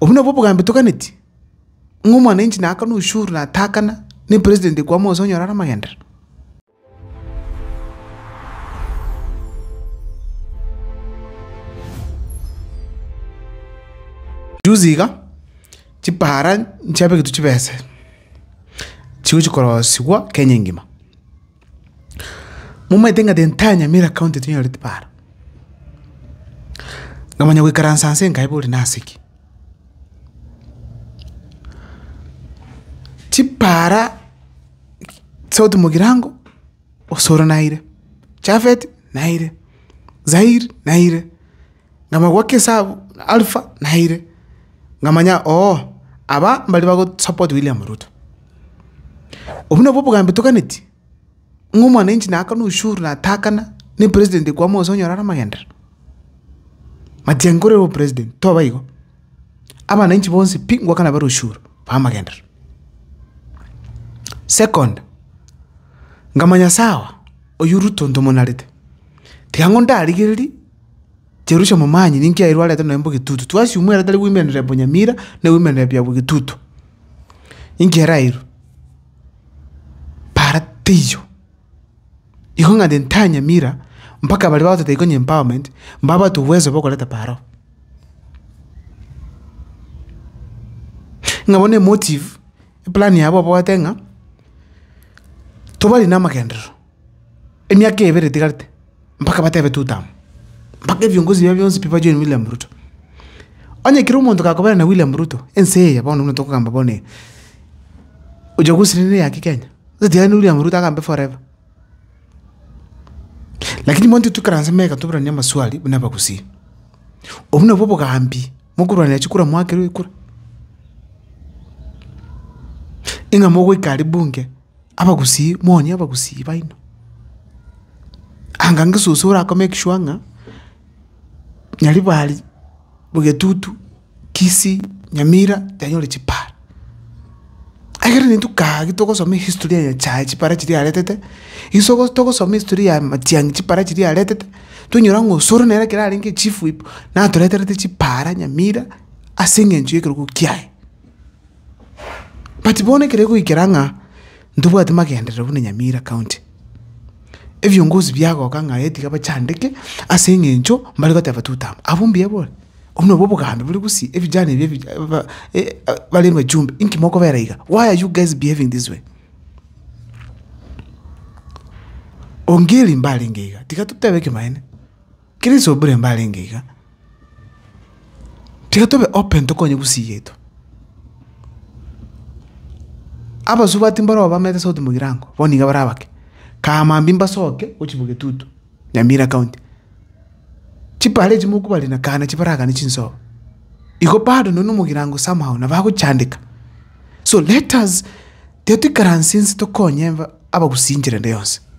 Obwo nabwo obogambi toganeti, ng'a omwananchi naakana oshuru na ataakana, na epresident ekwama onsi onyore are amagenderero. Juzi iga, chipara nchiabegetwe chibese, chigochia korosigwa Kenya engima. Momanyete ng'a tintari aa Nyamira county tinyoreti paaro. Namanya goikaransa nse nkaeba ore nase ki? Chipaara sauti mogirango osoro naire, chafet naire, zair naire. Ng'ama goika esabu Alpha naire, ng'amanya oo aba mbari bago support William Ruto. Obwo nabwo obogambi toganeti, ng'a omwananchi nakana oshuru natakana ne president kwama gose onyora are amagenderero. Matiang'i kore ore president toba igo, abananchi bonsi pi ngwakana bare oshuru ba amagenderero. Second, ngamanya sawa oyio Ruto ntomonarete, tiga ng'o ndarigereria. Jerusha momanye ninki airwe arete nonya bwegetutu, twasiumwa ere tari goimerera ebonyamira, na egoimerera bia bwegetutu. Inki ere airwe? Para teiyo. Igo ng'a onye ntanyamira, mpaka baria bagototebia konya empowerment, mbabwate obwezo bwa okoreta parao. Ng'a bono emotive, eplani yabo oboete ng'a, tobari namagenderero. Emiaka ebere etigarete mpaka batebe tutamu, mpaka ebiongozi bia bionsi pi ba join William Ruto. Onye kera omonto gakobera na William Ruto, ense eye bono buna tokogamba bono eye, uchaguzi nere ya ki Kenya? Totigane na William Ruto agambe forever. Lakini bono intwe toikaranse mega toboranie amaswali buna abagusii. Obwo nabwo obogambi mokorwanera chikura moakerwa ekura? Ing'a mogoika aria bunge. abagusii, moonye abagusii baino. Anga inga soso ora komake sure ng'a nyaribari, ogetutu, kisii, nyamira, yanyore chipara. Egere naintwe kaa agi togosoma ehistory ya nyachae chipara chiria aretete, iso bosi togosoma ehistory ya matiang'i chipara chiria aretete, tonyora ng'a osore nere ekero arenge chief whip, natoreterete chipara nyamira, ase eng'encho y'ekerogo kiaye. But bono ekero egoikera ng'a ntobwati magenderero buna Nyamira county, ebiongozi biagoka ng'a aye tiga bachandeke ase eng'encho mbare goteba tutam. Abwo mbuya bore? Obwo nabwo obogambi bore gusii ebijana ebi ebi ba bare bachumbe inki mokobera iga? Why are you guys behaving this way? Ongeri mbarenge iga tiga totebe ekemanera. Kristo buna mbarenge iga, tiga tobe open tokonye gusigetwa. Abasubati mbarobwo bamenyete South Mugirango, bono niga bare abake. Kamambi mbasoke gochia Bogetutu, Nyamira county. Chibare echi mokobarire na kana chibaragane chinsobo. Igo bado nonya Omogirango somehow nabo agochandeka. So let us, tiga toikaranse inse tokonye aba abagusinchire rende yonsi.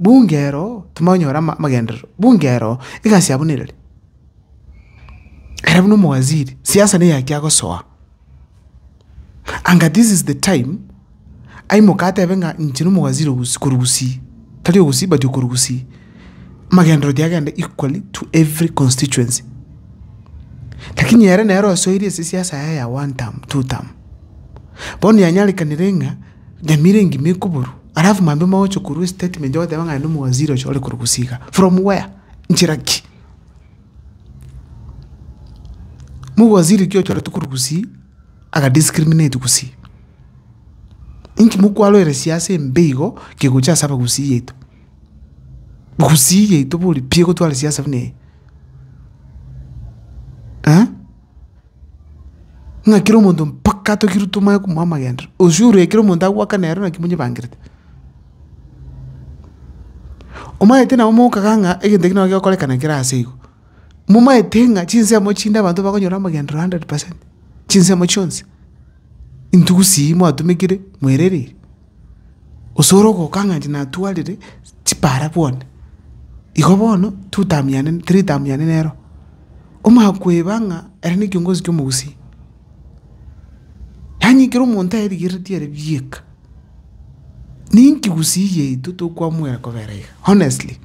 bunga ero timoranyora ama- amagenderero, bunga ero egasi yabo nereri. Ere buna omowaziri, siasa nigo eyachia gosoa, anga this is the time aimoke atebe ng'a inche na omowaziri ogosi korwa gusii, tari ogosii but okorwa gusii, amagenderero oria agende equally to every constituency. Lakini ere nere osoire ase siasa yaye ya one term, two term, bono yanyarekanire ng'a. Nyamira engima ekoborwa alafu mambe mogocha korwa estatement ogoteba ng'a aye nomowaziri ocha ore korwa gusii igaa. From where? Nchera ki? Mowaziri ki ochoretwe korwa gusii aga discriminate gusii? Inki mokwaroire siasa embe igo kegocha ase abagusii yaito? Gusii yaito bori pi egotware siasa buna eye? Eeh? Ng'a kera omonto mpaka atogirwe tomanye komoa amagenderero, onsi ore ekero omonto agoakana ero naki monyebangerete. Omanyete nabo mokagaa ng'a egento eke nabo gegokorekana kera aase igo, momanyete ng'a chinsemo chinde abanto bakonyora amagenderero hundred percent, chinsemo chionsi, intugusi eye mwatumekire mwerereire. Gose ore ogoka ng'a inche natwarire chipara bwane, igo bono totamiane toritamiane nero. Omanye koeba ng'a ere ne ekiongozi kia omogusia. Yaani ekero omonto aerigeretie ere bieka, ninki gusii yaito tokwamwera kobera iga honestly.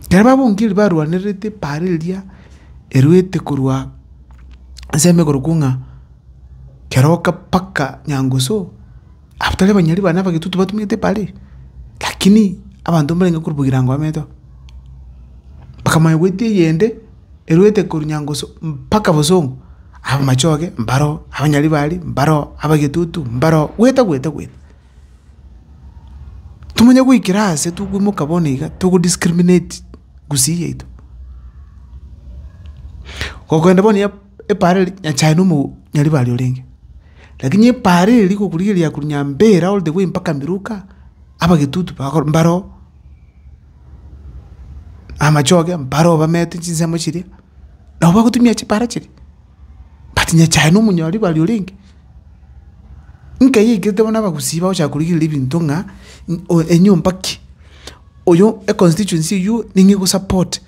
Ekero babungirie barwanererete epaara eria eruete korwa ensemo ekorokwa ng'a keroka mpaka nyangusu, abwo tari abanyari bane abagetutu batumete epaara eria? Lakini abanto mbarenge korwa ebirango bamenyete oo, mpaka mwaigweti eyende eruete korwa nyangusu mpaka bosongo, abamachoge mbaro oo, abanyaribari mbaro oo, abagetutu mbaro oo, gwete gwete gwete. Tomonye goikera aase tokoimoka bono iga togo discriminate gusii yaito. Gokogenda bono ya epaara eri nyasae na omo nyaribari orenge. Lakini epaara eri gokorigereria korwa nyambera all the way mpaka miroka, abagetutu bakor mbare oo, amachoge mbare oo bamete chinsemo chiria, nabo bagotumia chipaara chiria. but nyechae na omonyori bare orenge. Nkeiyo aikete bono abagusii bagochaka korigereria ebinto ng'a oyo enyomba ki, oyo econstituency eywo ning'o egosapota,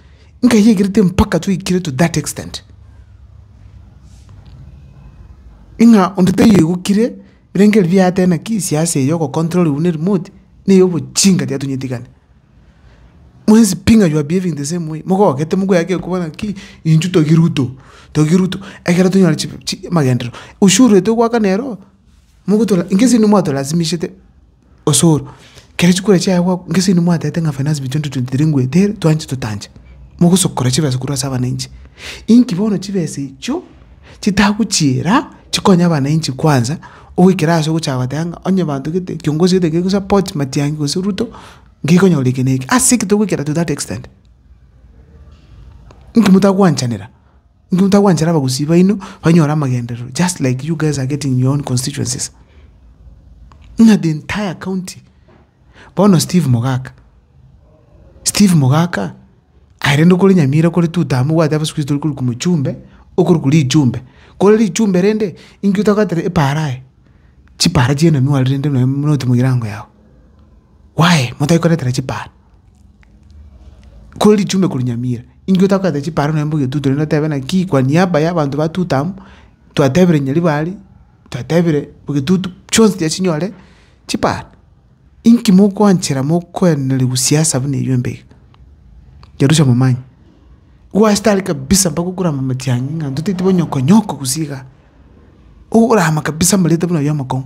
nkeiyo aikerete mpaka twaikire to that extent. Ng'a onde taiyo egokire. Birengererio biria yateba naki ase ase eye ogocontroliwa ne remote, na eye obochinga tiatonyetigani. Mwensi pi ng'a you are behaving the same way, mogogete mokoya gaki ekobaa naki intwe togi Ruto, togi Ruto, ekero tonyora chifu chi amagenderero, ushuru etwe goakana ero, mogotora, inke ase inwe mwatolasimishete. osoro. Kere chikura chiaye gwa gese inwe mwatete ng'a finance bill 2023 ngwetere twanche totanche, mogosokora chibesa korwa ase abananchi. Inki bono chibesa echio chitagochiira chikonye abananchi kwanza, ogoikera ase ogocha goteba ng'a onye banto gete kiongozi gete kere support Matiang'i gose Ruto, ngekonyora eke na eke. Ase ki togoikera to that extent? Inki motagwanchanera? Inwe motagwanchera abagusii baino banyore amagenderero just like you guys are getting in your own constituencies. Ng'a the entire county. Bono Steve Mogaka. Steve Mogaka aerende okore Nyamira kore two term obwate abasukuisi tori korikwa mochumbe okorikwa richumbe. Kore richumbe rende inki otagotera epaara aye? Chipaara chi'enanwa rende nonya buna otimogire ango yao. Why motari koretera chipaara? Kore ritume korwa nyamira, inki otakoreta chiparo naende ogetutu naende otebe naki kwa niaba ya abanto batuto abwo, twatebire Nyaribari, twatebire ogetutu, chionsi tiga chinyore chiparo. Inki mokoanchera mokoenaneriwa siasa buna eyio embe iga? Kerusia momanye, gwachete aria kabisa mpaka okore amamatiang'i ng'a totaeti bonyoko nyoko gose igaa, okorama kabisa amareta buna ayio amakong'u.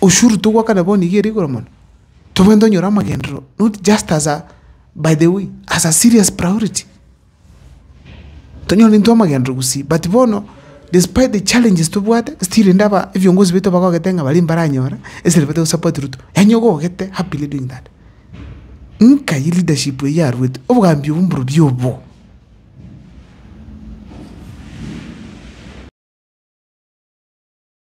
Ushuru togwakana bono nigo ere igoro mono, tobwenerete onyore amagenderero not just as a by the way, as a serious priority. Tonyore intwe amagenderero gosii but bono despite the challenges tobwate still rende aba ebiongozi baito bagogete ng'a baria mbaranyore esere bate gosupport Ruto, yaani ogogete happily doing that. Nkai leadership eyio yaruete, obogambi obwo mborobio obo.